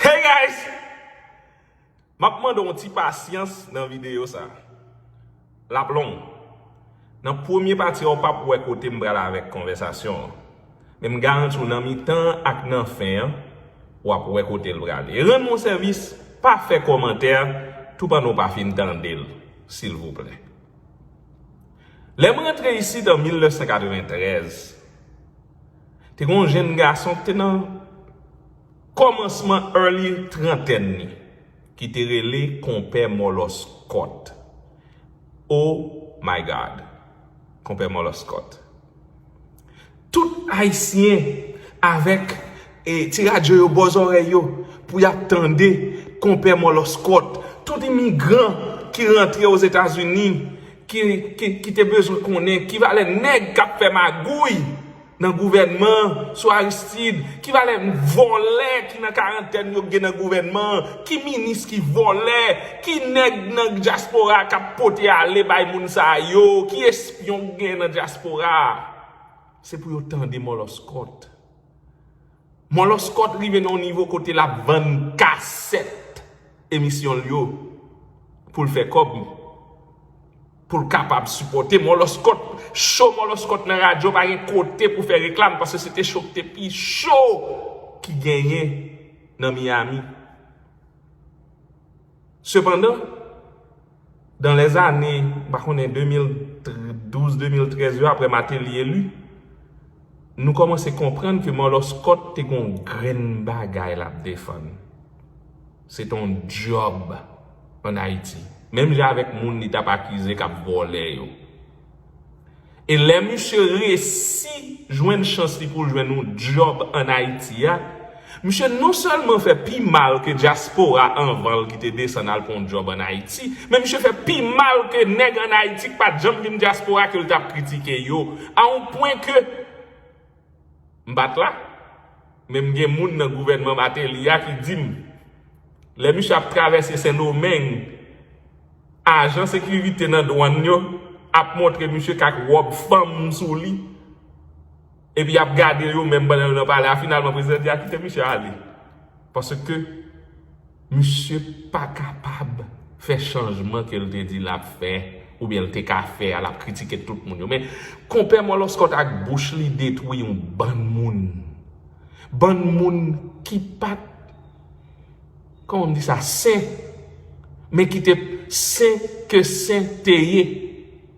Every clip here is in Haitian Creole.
Hey guys! M ap mande w yon ti pasyans nan videyo sa. L ap long. Nan premye pati a ou p ap wè kote m pral avèk konvèsasyon an. Men m garanti w nan mitan an ak nan fen an, w ap wè kote l prale. E rann m yon sèvis, pa fè kòmantè tou pandan w pa fin tande l, silvouplè. Lè m rantre isit an 1993. Te gen yon jenn gason ki te nan kòmansman early trantèn li ki te rele Konpè Mòlòs Kòt. Oh my God! Konpè Mòlòs Kòt. Tout Ayisyen avèk ti radyo yo bò zòrèy yo pou y ap tande Konpè Mòlòs Kòt. Tout imigran ki rantre Ozetazini. ki te bezwen konnen ki valè nèg kap fè magouy nan gouvènman an sou Aristide, ki valè vòlè ki nan karantèn yo gen nan gouvènman an, ki minis ki vòlè, ki nèg nan dyaspora a kap pote ale bay moun sa yo, ki espyon ki gen nan dyaspora a. Se pou yo tande Mòlòskòt. Moloskot rive nan yon nivo kote lap vann kasèt emisyon l yo pou l fè kòb li. Pou l kapab sipòte Moloskot. Show Moloskot nan radyo pa gen kote pou fè reklam paske se te show ki te pi show ki genyen nan Miami. Sepandan, dan lè zane, m pa konnen 2012, 2013 yo apre Mateli eli, nou kòmanse konprann ke Mòlòskòt te gen yon grenn bagay l ap defann. Se te yon dyòb ann Ayiti. Menm jan avèk moun li t ap akize k ap vòlè yo. E lè misye resi jwenn chans li pou l jwenn yon djòb an Ayiti a, misye non sèlman fè pi mal ke dyaspora anvan l ki te desann al pran yon djòb an Ayiti, men misye fè pi mal ke nèg an Ayiti ki pa t janm vin dyaspora ke l t ap kritike yo, a yon pwen ke. M pa t la, men m gen moun nan gouvènman Mateli a ki di m, lè misye ap travèse Sendomeng, ajan sekirite nan dwann yo ap montre misye k ak wòb fanm sou li, epi y ap gade yo menm pandan yo nan pale a. Finalman, prezidan di a kite misye ale, paske. Misye pa kapab fè chanjman ke l te di l ap fè oubyen l te ka fè a l ap kritike tout moun yo men konpè mòlòskòt ak bouch li detwi yon bann moun bann moun ki pat kòman m di sa sen men ki te sen ke sen te ye.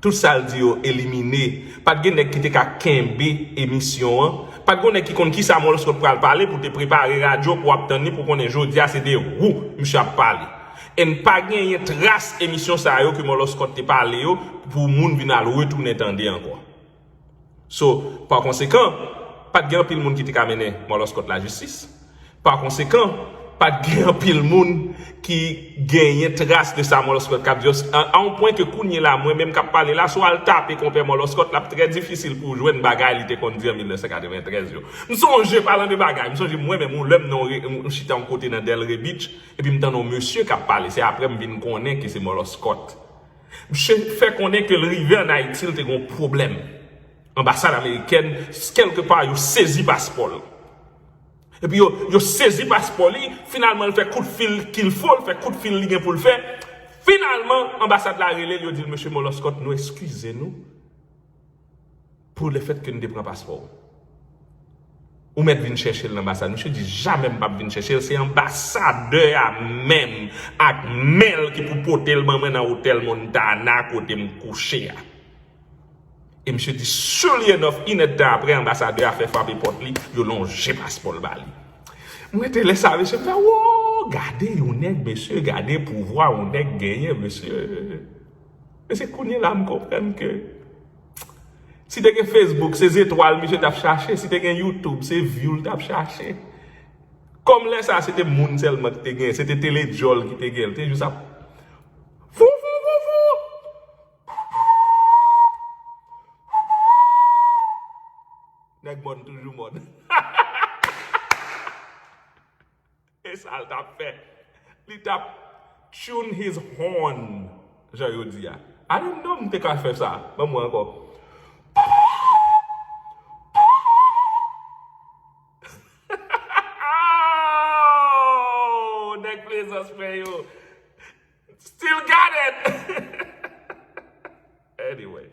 Tout sal di yo elimine. Pat gen nèg ki te ka kenbe emisyon an. Pat gon nèg ki konn kisa Molskot t pral pale pou te prepare radyo pou wap tann li pou konnen jodia se de wou misye ap pale. Enn pa genyen tras emisyon sa yo ke Moloskot te pale yo pou moun vin al retounen tande ankò. So, pa konsekan, pa t gen anpil moun ki te ka mennen Marlon Scott lajistis. Pa konsekan, pa t gen anpil moun ki genyen tras de sa Marlon Scott k ap di yo. A yon pwen ke kounyela, mwen menm k ap pale la, si w al tape Konpè Marlon Scott, l ap trè difisil pou w jwenn bagay li te konn di an 1993 yo. M sonje, palan de bagay, m sonje mwen menm yon lè m nan yon, m chita yon kote nan Delray Beach, epi m tande yon mesye k ap pale, se aprè m vin konnen ke se Marlon Scott. Msye fè konnen ke l rive an Ayiti l te gen yon pwoblèm. Anbasad amerikèn kèlke pa yo sezi paspò l. Epi yo yo sezi paspò li, finalman l fè kout fil kil fo, l fè kout fil li gen pou l fè. Finalman anbasad la rele l yo di l Mesye Moloskòt nou eskize nou. Pou le fèt ke n te pran paspò w. Ou mèt vin chèche l nan anbasad. Misye di jamè m pap vin chèche l, se anbasadè a menm ak men l ki pou pote l ban mwen nan otèl Montana kote m kouche a. E misye di surely enough, in èdtan aprè anbasadè a fè frape pòt li, yo lonje paspò l ba li. M rete lè sa mesye, m fè woo, gade yon nèg mesye, gade pouvwa yon nèg genyen mesye. E se kounye la m konprann ke. Si te gen Facebook se zetwal misye tap chache, si te gen YouTube se view li tap chache. Kòm lè sa se te moun sèlman ki te gen, se te tele djòl ki te gen, li te jis ap Vouvouvou! Nèg mòn toujou mòn. E sa l t ap fè? Li t ap tune his horn, jan yo di a. Ane non m te ka fè sa. Ban mwen ankò. Aww! Nèg Plezans mwen yo! Still got it! Anyway.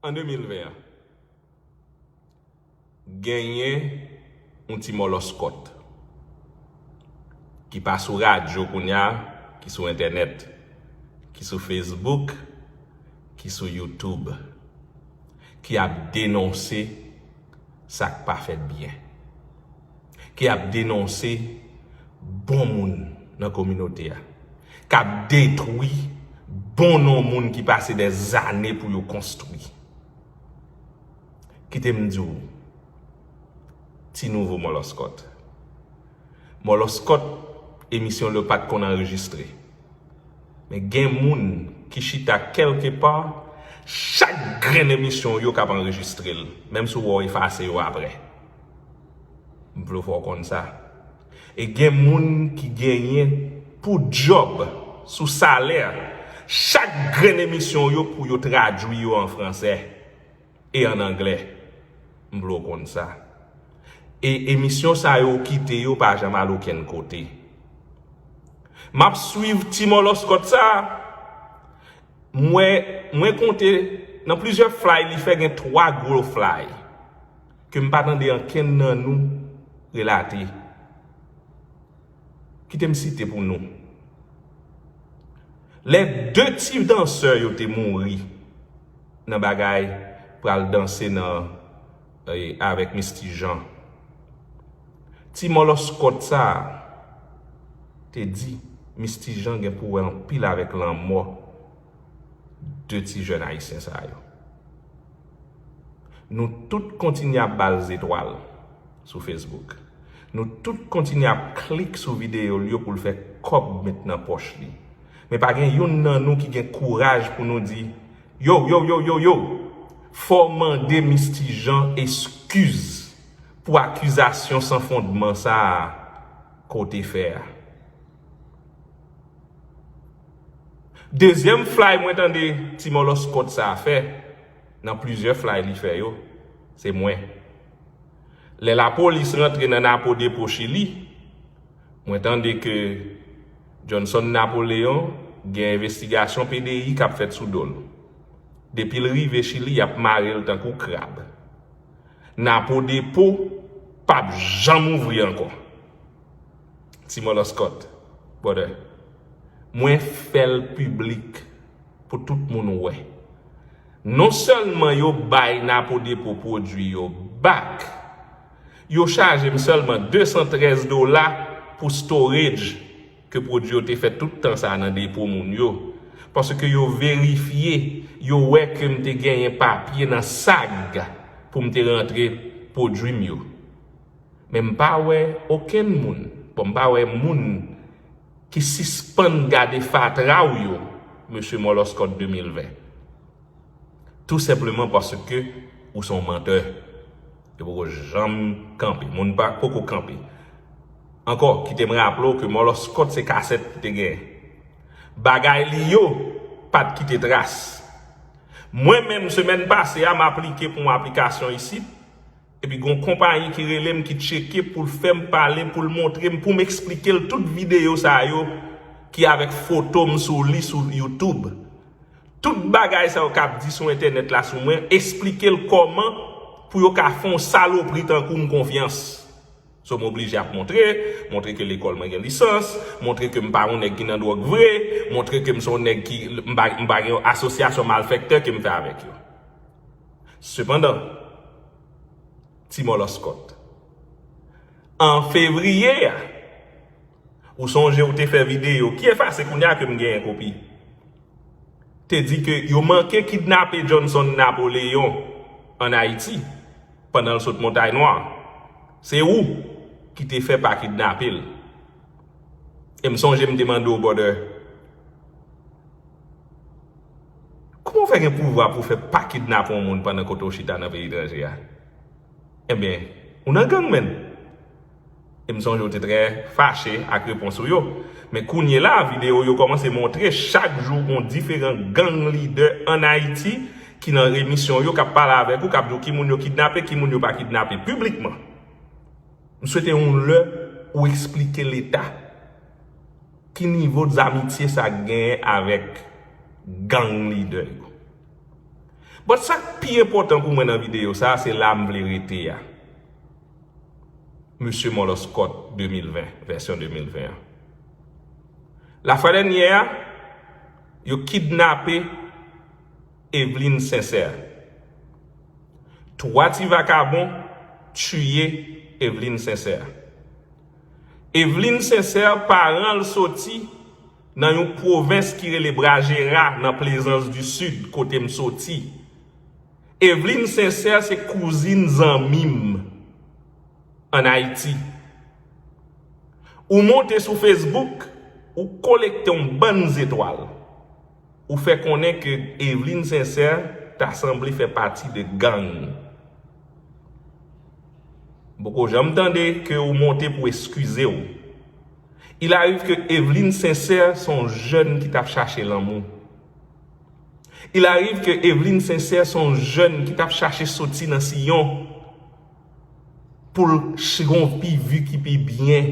An 2020 an, genyen yon ti mòlòskòt ki pa sou radyo kounye a, ki sou entènèt, ki sou Facebook, ki sou YouTube, ki ap denonse sa k pa fèt byen. ki ap denonse bon moun nan kominote a, k ap detwi bon non moun ki pase dè zane pou yo konstwi. Kite m di w, ti nouvo mòlòskòt, mòlòskòt emisyon l yo pa t konn anrejistre, men gen moun ki chita kèlke pa, chak grenn emisyon w yo k ap anrejistre l, menm si w wè w efase yo aprè. M vle w fè w konn sa. E gen moun ki genyen pou djòb sou salè chak grenn emisyon yo pou yo tradui yo an fransè e an anglè. M vle w konn sa. E emisyon sa yo ou kite yo pa janm al okenn kote. M ap swiv ti mòlòskòt sa a. M wè, mwen konte nan plizyè flay li fè gen 3 gwo flay. ke m pa tande ankenn nan nou relate. Kite m site pou nou. Lè 2 ti dansè yo te mouri nan bagay pral danse nan avèk Misty Jean. Ti mòlòskòt sa a te di Misty Jean gen pou wè anpil avèk lanmò 2 ti jèn ayisyen sa yo. Nou tout kontinye ap ba l zetwal sou Facebook. Nou tout kontinye ap klik sou videyo l yo pou l fè kòb met nan pòch li. Men pa gen youn nan nou ki gen kouraj pou nou di, Yow, yow, yow, yow, yow! Fò w mande Misty Jean eskiz pou akizasyon san fondman sa a ke w te fè a. Dezyèm flay mwen tande ti mòlòskòt sa a fè, nan plizyè flay li fè yo, se mwen. Lè lapolis rantre nan Napo depo Chili, mwen tande ke Johnson Napoleon gen envestigasyon PDI k ap fèt sou do l. Depi l rive Chili y ap mare l tankou krab. Napo depo p ap janm ouvri ankò. Ti mòlòskòt brother mwen fèl piblik pou tout moun wè non sèlman yo bay napo depo pwodwi yo back yo chajem sèlman 213 dola pou storage ke pwodwi yo te fè tout tan sa nan depo moun yo paske yo verifye yo wè kem te genyen papye nan sag poum te rantre pwodwim yo. men m pa wè okenn moun bon m pa wè moun ki sispann gade fatra w yo mesye Mòlòskòt 2020 tou senpleman paske ou se yon mantè ki poko janm kanpe moun pa poko kanpe ankò kite m raple w ke Mòlòskòt se kasèt ki te gen bagay li yo pa t kite tras mwen menm semèn pase a m aplike pou yon aplikasyon isit. Epi gon konpayi ki relem ki tcheke poul fèm pale poul montrem poum esplikel tout video sa yo ki avèk fotom sou li sou youtube tout bagay sa yo kap di sou entènèt la sou mwen esplikel kòman pou yo ka fè yon salopri tankoum konfyans so m oblije ap montre montre ke lekòl mwen gen lisans montre kem pa yon nèg ki nan dwòg vre montre kem son nèg ki m pa gen yon asosyasyon malfèktè kem fè avèk yo. Sepandan, ti mòlòskòt, an fevriye a, ou sonje ou te fè videyo, ki efase kounye a ke m genyen kopi, te di ke yo manke kidnape Johnson Napoléon an Ayiti pandan l sot Montay Nwa. Se ou ki te fè pa kidnape l. E m sonje m te mande w, brother, Kouman w fè gen pouvwa pou w fè pa kidnape yon moun pandan kote w chita nan peyi etranje a? Enben, ou nan gang menn! E m sonje w te trè fache ak repons ou yo. Men kounyela a videyo yo kòmanse montre chak jou yon diferan gang lidè ann Ayiti ki nan emisyon yo k ap pale avèk ou, k ap di w ki moun yo kidnape, ki moun yo pa kidnape piblikman. M swete yon lè ou esplike Leta. Ki nivo zamitye sa genyen avèk gang lidè yo? But sa k pi enpòtan pou mwen nan videyo sa a se la m vle rete a. Mesye Mòlòskòt 2020, vèsyon 2020 an. La fwa dènyè a, yo kidnape Evelyne Sincère. 3 ti vakabon tiye Evelyne Sincère. Evelyne Sincère paran l soti nan yon pwovens ki rele Brajera nan Plezans di Sid kote m soti. Evelyne Sincère se kouzin zanmi m an Ayiti. Ou monte sou Facebook, ou kolekte yon bann zetwal. Ou fè konnen ke Eveline Sincère ta sanble fè pati de gang. M poko janm tande ke ou monte pou eskize w. Il arrive ke Eveline Sincère se yon jèn ki tap chache lanmou. Il arrive ke Eveline Sincère se yon jèn ki tap chache soti nan siyon. poul chnvi vi ki pi byen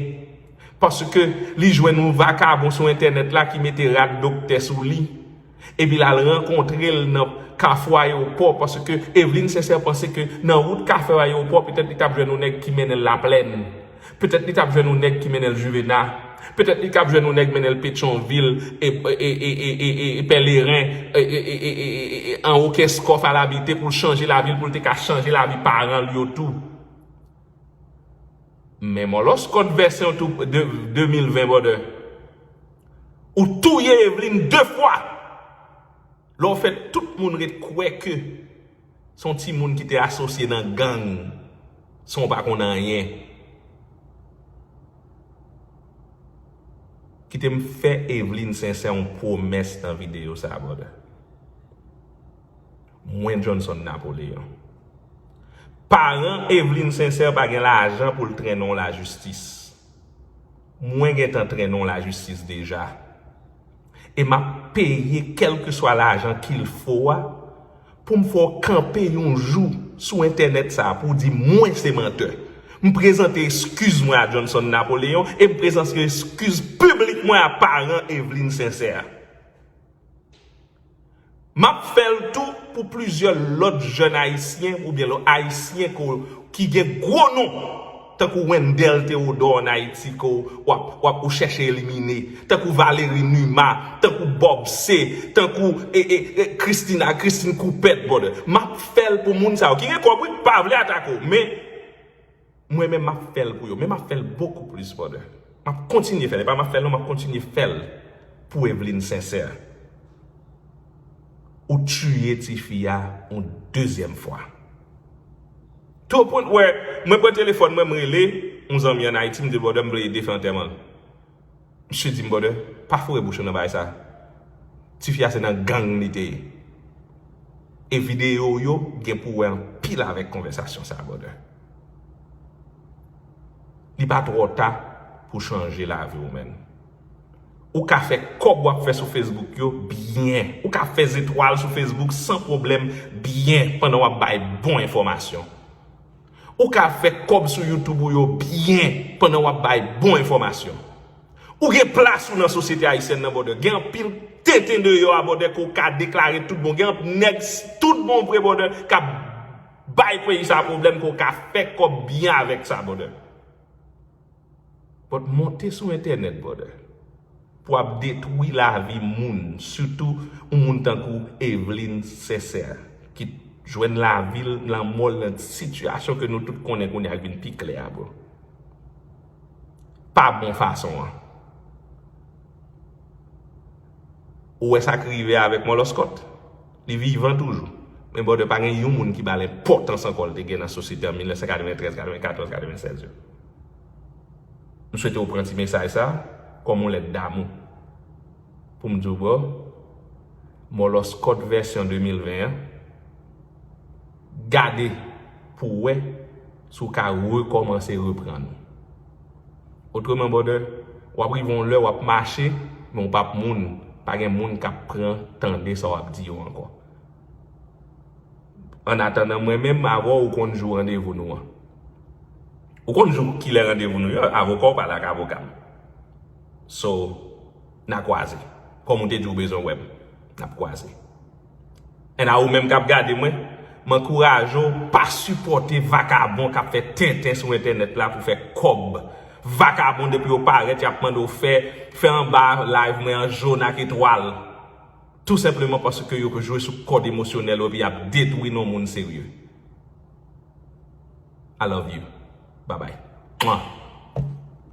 paske li jwenn yon vakabon sou entènèt la ki mete rad doktè sou li epi lal rankontrel nan kafou ayewopò paske Evelyne Sincère panse ke nan wout kafou ayewopò petèt li tap jwenn yon nèg ki mennenl laplèn. Petèt li tap jwenn yon nèg ki mennenl juvena, petèt li kap jwenn yon nèg mennenl petyonvil e pèleren e anwo kèskòf al abite poul chanje lavil poul te ka chanje lavi paranl yo tou. Men mòlòskòt vèsyon 2020 brother ou touye Evelyne 2 fwa lè ou fè tout moun ret kwè ke Son ti moun ki te asosye nan gang sanw pa konn anyen. Kitem fè Evelyne Sincère yon pwomès nan videyo sa brother. Mwen Johnson Napoleon. Paran Evelyne Sincère pa gen lajan poul trennenw lajistis. Mwen gentan trennenw lajistis deja. E map peye kelkeswa lajan kil fo a poum fè w kanpe yon jou sou entènèt sa a pou w di mwen se mantè. M prezante eskiz mwen a Johnson Napoléon e m prezanse eskiz piblik mwen a paran Eveline Sincère. M ap fè l tou pou plizyè lòt jèn ayisyen oubyen lò ayisyen ke w ki gen gwo non tankou Wendell Theodore an Ayiti ke w w ap w ap ou chèche elimine tankou Valery Numa tankou Bob C tankou e e e Christina Christine Coupet brother m ap fè l pou moun sa yo ki gen kòb wi pa vle atake w men Mwen menm map fèl pou yo men map fèl bokou plis for de map kontinye fèl epa map fèl non map kontinye fèl pou Evelyne Sincère ou tiye tifi a yon dezyèm fwa tou au point wè mwen pran telefòn mwen m rele yon zanmi an Ayiti m dil brother m vle ede fè antèman l. Misye dim brother pa foure bouch ou nan bagay sa tifi a se nan gang li te ye e video ou yo gen pou wè anpil avèk konvèsasyon sa brother li pa twò ta pou chanje lavi ou menn ou ka fè kòb wap fè sou Facebook yo byen ou ka fè zetwal sou Facebook san pwoblèm byen pandan wap bay bon enfòmasyon. Ou ka fè kòb sou YouTube ou yo byen pandan wap bay bon enfòmasyon. Ou gen plas ou nan sosyete ayisyèn nan brother. Gen anpil tenten deyò a brother ke w ka deklare tout bon. Gen anpl nèg tout bon vre brother kap bay peyi sa pwoblèm ke w ka fè kòb byen avèk sa brother. But monte sou entènèt brother pou ap detwi lavi moun sitou yon moun tankou Eveline Sincère ki t jwenn lavil lanmòl nan sitiyasyon ke nou tout konnen kounye a k vin pi klè a bro pa bon fason an. Ou wè sa k rive avèk Mòlòskòt? Li vivan toujou. Men Bòdè pa gen yon moun ki ba l enpòtans ankò l te gen nan sosyete an 1993, 94, 96 yo. M swete ou pran ti mesaj sa kòm yon lèt damou pou m di w bro, Mòlòskòt vèsyon 2020 an, Gade pou w wè si w ka rekòmanse reprann ou. Otreman brother, w ap rive yon lè w ap mache men w p ap moun, pa gen moun k ap pran tande sa w ap di yo ankò. Annatandan mwen menm avè w ou konn jou randevou nou an. Ou konn jou kilè randevou nou yo, avoka w pale ak avoka m. So, n a kwaze. Kòm ou te di ou bezwen wè m, n ap kwaze. And a ou menm kap gade mwen, m ankouraje w pa sipòte vakabon kap fè tenten sou entènèt la pou fè kòb. Vakabon depi yo parèt yap mande w fè, fè anba live mwen an jaune ak etwal. Tou senpleman paske yo jwe sou kòd emosyonèl ou epi yap detwi non moun serye. I love you. Babay. Mwah.